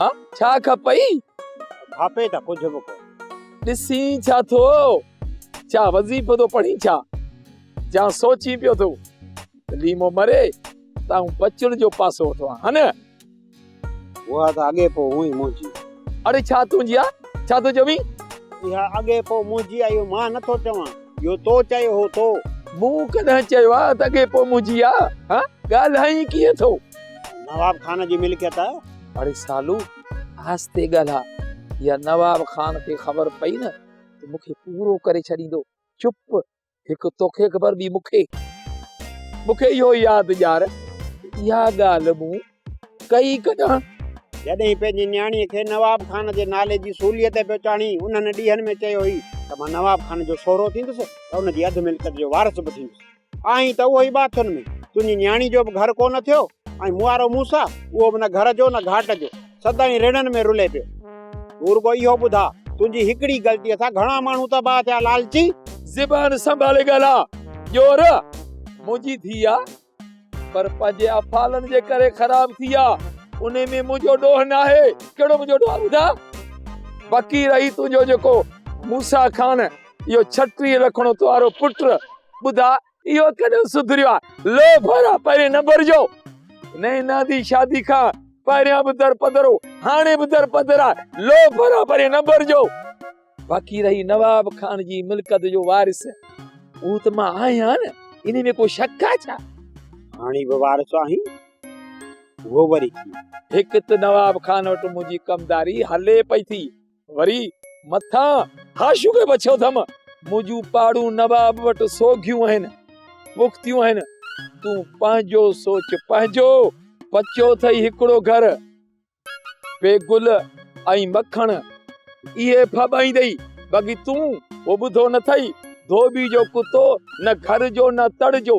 ها ڇا کپئي کپي ته ڪجهه به ڪو ڏسين ڇا ٿو ڇا وظيفو ٿو پڙهين ڇا جا سوچين پيو ٿو ليمو مري تائو بچڙ جو پاسو اٿو هن هو ته اڳي پو هو ئي منهنجي اڙي ڇا تنهنجي آ ڇا ٿو چوي اها اڳي پو منهنجي آ اهو مان نٿو چوان اهو تو چيو هو تو مون ڪڏهن چيو آ ته اڳي پو منهنجي آ ها ڳالهائين ڪيئن ٿو نواب خان جي ملڪيت آهي. اڙي سالو آهستي ڳالهاء يا نواب خان کي خبر پئي نه ته مون کي پورو ڪري ڇڏيندو. چپ هڪ توکي خبر ٻي مون کي. مون کي اهو ياد ڄار ته اها ڳالهه مون ڪئي ڪڏهن. جڏهين پنهنجي نياڻيء کي نواب خان جي نالي جي سوليء تي پيو چاڙهين انهن ڏينهن ۾ چيو هئي ته مان نواب خان جو سهرو ٿيندس ته ان جي اڌ ملڪيت جو وارث به ٿيندس. آهين ته اهو ئي ٻاٿن ۾. تنهنجي نياڻي جو به گهر ڪونه ٿيو ۽ مون وارو موسيٰ، اهو به نه گهر جو نه گهاٽ جو، سدائين رڙن ۾ رلي پيو. تون رڳو اهو ٻڌاء، تنهنجي هڪڙي غلطيء سان گهڻا ماڻهو تباهه ٿيا، لالچي! زبان سنڀالي ڳالهاء، ڄور منهنجي ڌيء آ، پر پنهنجي افعالن جي ڪري خراب ٿي آ، انهي ۾ منهنجو ڏوهه ناهي. ڪهڙو منهنجو ڏوهه آ ٻڌاء؟ بقي رهي تنهنجو جيڪو موسيٰ خان. اهو ڇٽي رکڻو توارو پٽ ٻڌا اهو ڪڏهن سڌريو آهي لو ڀرا پهرين نه ڀرجو نينا دي شادي کان پهريان به در پدر هو هاڻي به در پدر آهي لو ڀرا پهرين نه ڀرجو باقي رهي نواب خان جي ملڪت جو وارث اهو ته مان آهيان نه ان ۾ ڪو شڪ آهي ڇا هاڻي به وارث آهي اهو وري هڪ ته نواب خان وٽ منهنجي ڪمداري هلي پئي ٿي وري مٿان حاشيو به بڇيو اٿم منهنجون پاڙون نواب وٽ سوگهيون آهن پختيون آهن تون پنهنجو سوچ پنهنجو پچو اٿئي هڪڙو گهر بي گل ۽ مکڻ اهي ڦٻائيندئي باقي تون هو ٻڌو نه اٿئي ڌوٻي جو ڪتو نه گهر جو نه تڙ جو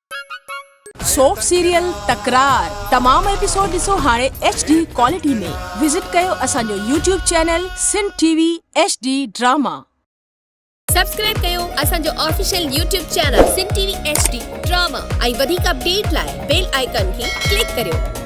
سوپ سيريل تڪرار تمام ايپيسوڊ ڏسو هاڻي ايڇ ڊي ڪوالٽي ۾ وزٽ ڪيو اسان جو YouTube channel Sindh T V H D drama. Subscribe ڪيو اسان جو official YouTube channel Sindh T V H D drama ۽ وڌيڪ اپڊيٽ لاء بيل آئيڪان کي ڪلڪ ڪريو.